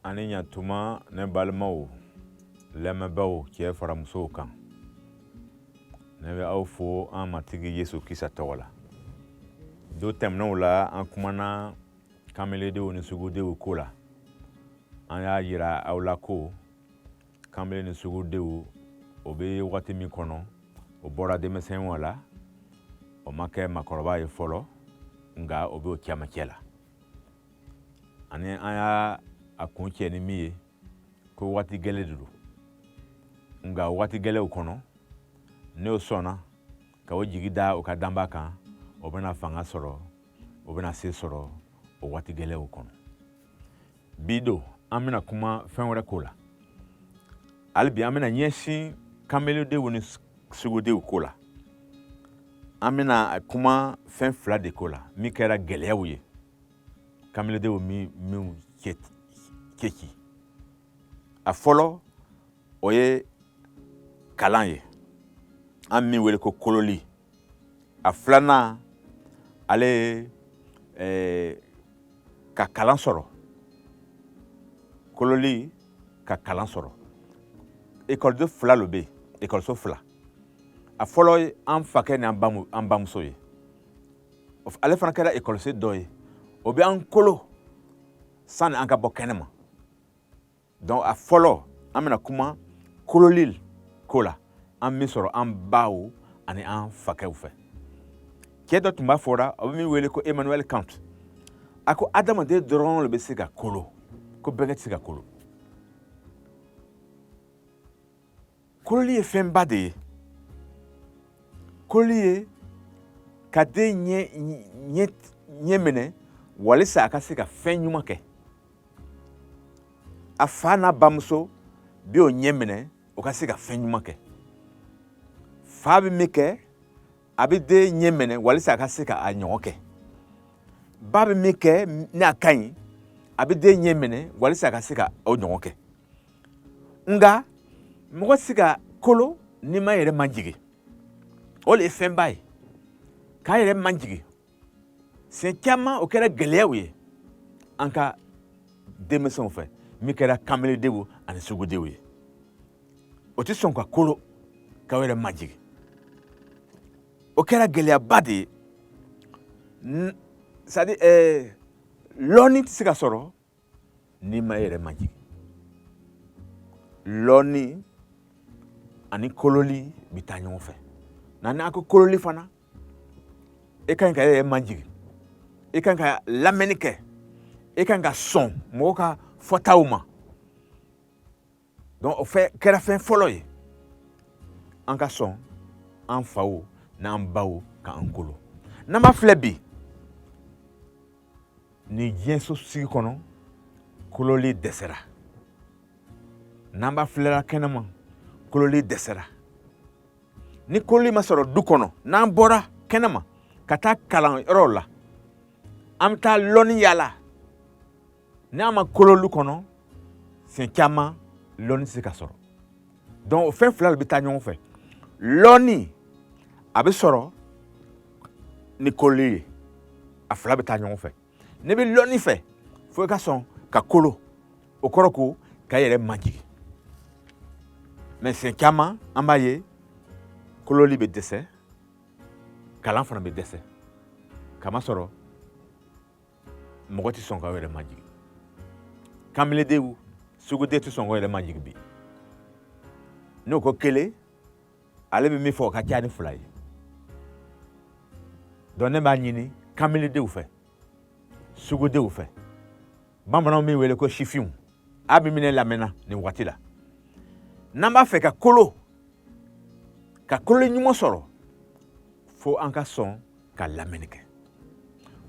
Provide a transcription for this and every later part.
aw ni ɲatuma ne balimaw lamɛnbaaw cɛ fara musow kan ne bɛ aw fo an matigi yesu krista tɔgɔ la don tɛmɛnenw la an kumana kameledenw ni sugudenw ko la an y'a yira aw la ko kanbele ni sugudenw o bɛ wagati min kɔnɔ o bɔra denmisɛnya la o ma kɛ maakɔrɔba ye fɔlɔ nka o bɛ o cɛmancɛ la ani an y'a kuncɛ ni min ye ko waati gɛlɛn de don nka waati gɛlɛnw kɔnɔ n'o sɔnna ka o jigi da o ka danbaa kan o bɛna fanga sɔrɔ o bɛna se sɔrɔ o waati gɛlɛnw kɔnɔ bi don an bɛna kuma fɛn wɛrɛ ko la hali bi an bɛna ɲɛsin kamelendenw ni sugudenw ko la an bɛna kuma fɛn fila de ko la min kɛra gɛlɛyaw ye kamelendenw minnu cɛci a fɔlɔ o ye kalan ye an min wele ko kololi a filanan ale ye eh, ka kalan sɔrɔ kololi ka kalan sɔrɔ ekɔliso fila lo bɛ yen ekɔliso fila a fɔlɔ ye an fakɛ ni an bamuso ye ale fana kɛra ekɔliso dɔ ye o bɛ an kolo sani an ka bɔ kɛnɛ ma donc a fɔlɔ an bɛna kuma kololi ko la an min sɔrɔ an baw ani an fakɛw fɛ cɛɛ dɔ tun b'a fɔra o bɛ min wele ko emmanuel kant a ko adamaden dɔrɔn le bɛ se ka kolo ko bɛgɛn tɛ se ka kolo Kololi ye fɛnba de ye kololi ye ka den ɲɛ ɲɛ ɲɛ minɛ walisa a ka se ka fɛn ɲuman kɛ a fa n'a bamuso bɛ o ɲɛ minɛ o ka se ka fɛn ɲuman kɛ fa bɛ min kɛ a bɛ den ɲɛ minɛ walisa a ka se ka a ɲɔgɔn kɛ ba bɛ min kɛ n'a ka ɲi a bɛ den ɲɛ minɛ walisa a ka se ka o ɲɔgɔn kɛ nka mɔgɔ tɛ se ka kolo n'i ma yɛrɛ majigin o de ye fɛnba ye k'an yɛrɛ majigin siɲɛ caman o kɛra gɛlɛyaw ye an ka denmisɛnw fɛ min kɛra kanbeledenw ani sugudenw ye o tɛ sɔn ka kolo k'o yɛrɛ majigin o kɛra gɛlɛyaba de ye c'est-à-dire ɛɛ lɔɔni tɛ se ka sɔrɔ n'i ma i yɛrɛ majigin lɔnni ani kololi bɛ taa ɲɔgɔn fɛ nka n'a ko kololi fana i ka ɲi ka i yɛrɛ majigin i ka ɲi ka lamɛnni kɛ i ka ɲi ka sɔn mɔgɔw ka fɔtaw ma donc o de kɛra fɛn fɔlɔ ye an ka sɔn an faw n'an baw k'an kolo n'an b'a filɛ bi nin diɲɛ sosigi kɔnɔ kololi dɛsɛra n'an b'a filɛla kɛnɛma kololi dɛsɛra ni kololi ma sɔrɔ du kɔnɔ n'an bɔra kɛnɛma ka taa kalan yɔrɔw la an bɛ taa lɔnni yaala n'an ma kolo lu kɔnɔ siɲɛ caman lɔnni tɛ se ka sɔrɔ donc o fɛn fila de bɛ taa ɲɔgɔn fɛ lɔnni a bɛ sɔrɔ ni kololi ye a fila bɛ taa ɲɔgɔn fɛ n'i bɛ lɔnni fɛ fo i ka sɔn ka kolo o kɔrɔ ko ka yɛrɛ majigin mais siɲɛ caman an b'a ye kololi bɛ dɛsɛ kalan fana bɛ dɛsɛ kamasɔrɔ mɔgɔ tɛ sɔn ka yɛrɛ majigi kamiledenw sugudenw tɛ sɔn ka yɛrɛ majigi bi n'o ko kelen ale bɛ min fɔ o ka ca ni fila ye donc ne b'a ɲini kamiledenw fɛ sugudenw fɛ bamananw min wele ko sifinw a bɛ min ne lamɛnna nin waati la n'an b'a fɛ ka kolo ka kolo ɲuman sɔrɔ fo an ka sɔn ka lamɛnni kɛ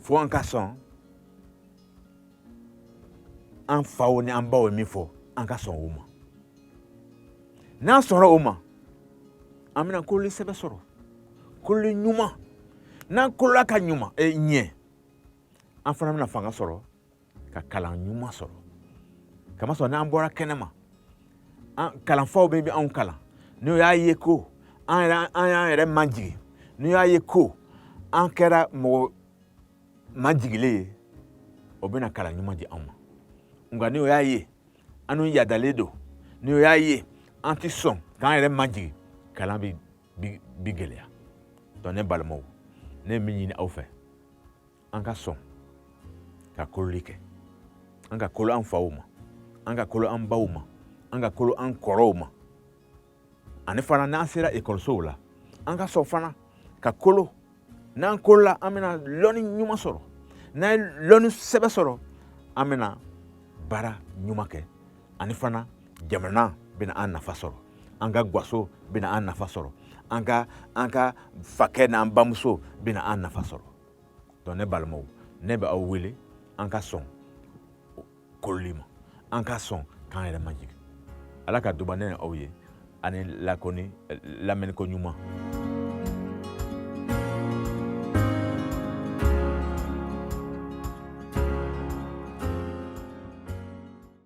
fo an ka sɔn an faw ni an baw ye min fɔ an ka sɔn o ma n'an sɔnna o ma an bɛna kololi sɛbɛ sɔrɔ kololi ɲuman n'an kolola ka ɲuman eh, ɲɛ an fana bɛna fanga sɔrɔ ka kalan ɲuman sɔrɔ kamasɔrɔ n'an bɔra kɛnɛma an kalanfaw bɛ anw kalan n'o y'a ye ko an yɛrɛ an y'an yɛrɛ majigin n'o y'a ye ko an kɛra mɔgɔ majigilen ye o bɛna kalan ɲuman di anw ma nka n'o y'a ye anw yadalen don n'o y'a ye an ti sɔn k'an yɛrɛ majigin kalan bi bi gɛlɛya donc ne balimaw ne ye min ɲini aw fɛ an ka sɔn ka kololi kɛ an ka kolo an faw ma an ka kolo an baw ma an ka kolo an kɔrɔw ma ani fana n'an sera ekɔlisow la an ka sɔn fana ka kolo n'an kolola an bɛna lɔnni ɲuman sɔrɔ n'an ye lɔnni sɛbɛ sɔrɔ an bɛna baara ɲuman kɛ ani fana jamana bɛna an nafa sɔrɔ an ka gwaso bɛna an nafa sɔrɔ an ka an ka fakɛ n'an bamuso bɛna an nafa sɔrɔ donc ne balimaw ne bɛ aw wele an ka sɔn kololi ma an ka sɔn k'an yɛrɛ majigin ala ka duba ne ni aw ye ani lakɔni lamɛnniko ɲuman